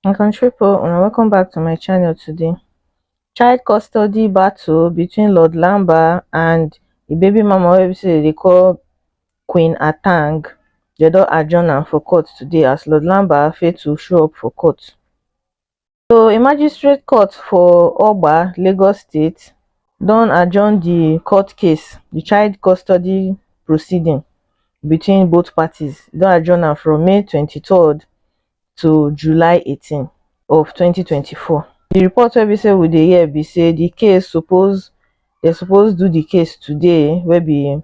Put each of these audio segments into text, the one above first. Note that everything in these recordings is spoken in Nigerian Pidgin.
my country people una welcome back to my channel today child custody battle between lord lamba and the baby mama wey be say dey call queen atang dem don adjourn am for court today as lord lamba fail to show up for court So a magistrate court for Oba, Lagos State don adjourn the court case, the child custody proceeding between both parties. E don adjourn am from May 23rd to July 18 of 2024. The report wey be say we dey hear be say the case suppose they suppose do the case today wey be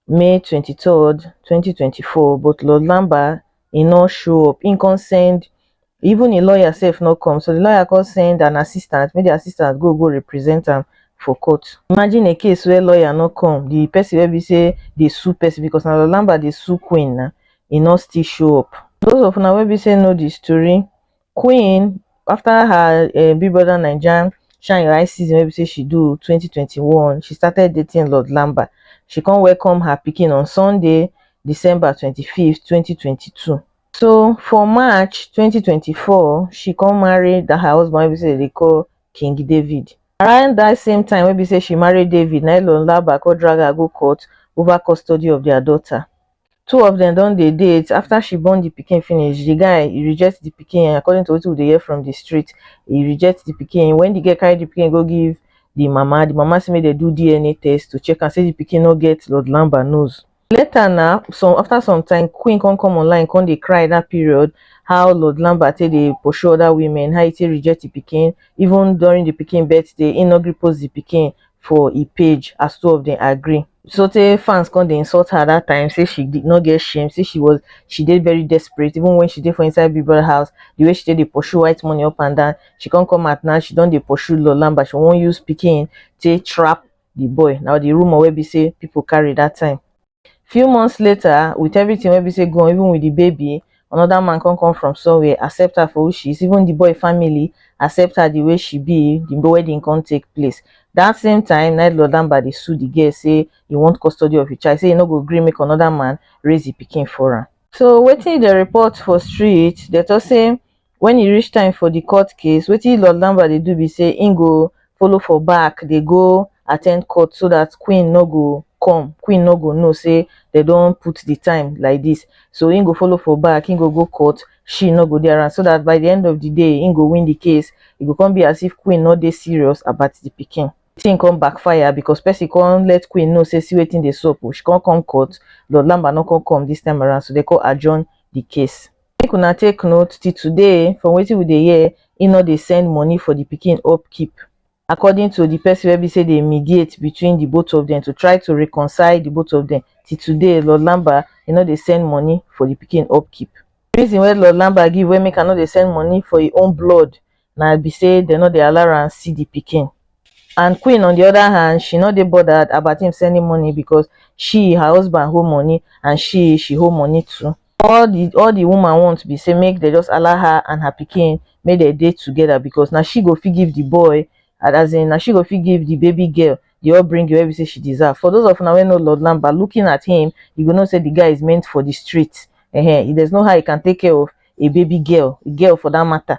may twenty third twenty twenty four but lord lamba e no show up im come send even im lawyer sef no come so di lawyer come send an assistant make di assistant go go represent am for court imagine a case where lawyer no come di person wey be say dey sue person because na lord lamba dey sue queen na e no still show up those of una wey be say know di story Queen after her um Big Brother Naija shine your eye season wey be say she do twenty twenty one, she started dating Lord Lamba. She come welcome her pikin on Sunday, December twenty five, twenty twenty two. So for March twenty twenty four, she come marry that her husband wey be say dem dey call King David. Around that same time wey be say she marry David, na im Lord Lamba come drag her go court over custody of their daughter. two of dem don dey date after she born the pikin finish the guy e reject the pikin according to wetin we dey hear from the street e reject the pikin when the girl carry the pikin go give the mama the mama say make dem do DNA test to check am say the pikin no get Lord Lamba nose later na some after some time Queen come come online come dey cry that period how Lord Lamba take dey pursue other women how e take reject the pikin even during the pikin birthday e no gree post the pikin for e page as two of dem agree so tey fans come dey insult her that time say she did not get shame say she was she dey very desperate even when she dey for inside big brother house the way she take dey pursue white money up and down she come come out now she don dey pursue lord lamba she wan use pikin take trap the boy now the rumour wey be say people carry that time few months later with everything wey be say go on even with the baby another man come come from somewhere accept her for who she is even the boy family accept her the way she be the wedding come take place that same time na lord lamba dey sue the girl say he want custody of his child say he no go gree make another man raise the pikin for am so wetin the report for street they talk say when e reach time for the court case wetin lord lamba dey do be say he go follow for back dey go attend court so that queen no go come queen no go know say they don put the time like this so he go follow for back he go go court she no go dey around so that by the end of the day he go win the case e go come be as if queen no dey serious about the pikin thing come backfire because person come let queen know say see wetin dey sup o she come come court lord lamba no come come this time around so they come adjourn the case make una take note till today from wetin we dey hear he no dey send money for the pikin upkeep according to the person wey be say dey mediate between the both of them to try to reconcile the both of them till today lord lamba he no dey send money for the pikin upkeep reason wey lord lamba give wey make am no dey send money for him own blood na be say dem no dey allow am see the pikin and queen on the other hand she no dey bothered about him sending money because she her husband hold money and she she hold money too all the all the woman want be say make they just allow her and her pikin make they dey together because now she go fit give the boy and as in now she go fit give the baby girl the upbringing wey be say she deserve for those of una wey know lord lamba looking at him you go know say the guy is meant for the street Ehen, there's no how he can take care of a baby girl a girl for that matter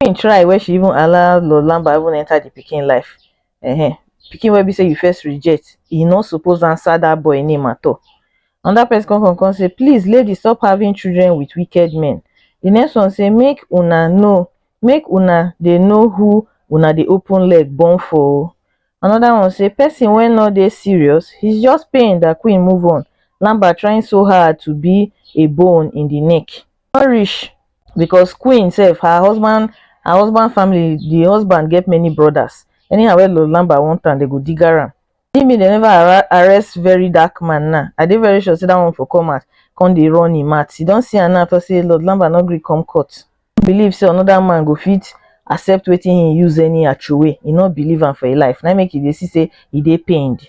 Queen try wey she even allow Lord Lamba even enter the pikin life. Ehen, pikin wey be say you first reject, e no suppose answer that boy name at all. Another person come come come say, please lady stop having children with wicked men. The next one say make una know, make una dey know who una dey open leg born for o. Another one say person wey no dey serious, he's just paying that queen move on. Lamba trying so hard to be a bone in the neck. no reach because queen sef her husband her husband family the husband get many brothers anyhow wey lord lamba want am dem go diga am see me dem never arre arrest verydarkman now i dey very sure say that one for come out come dey run him mouth you don see am now talk say lord lamba no gree come court no believe say another man go fit accept wetin him use anyhow throway he no believe am for him life na him make he dey see say he dey pained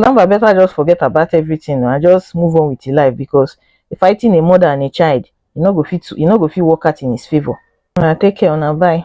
Lamba better just forget about everything and just move on with your life because fighting a mother and a child, you no go fit you no go fit work out in his favor. Una take care, una bye.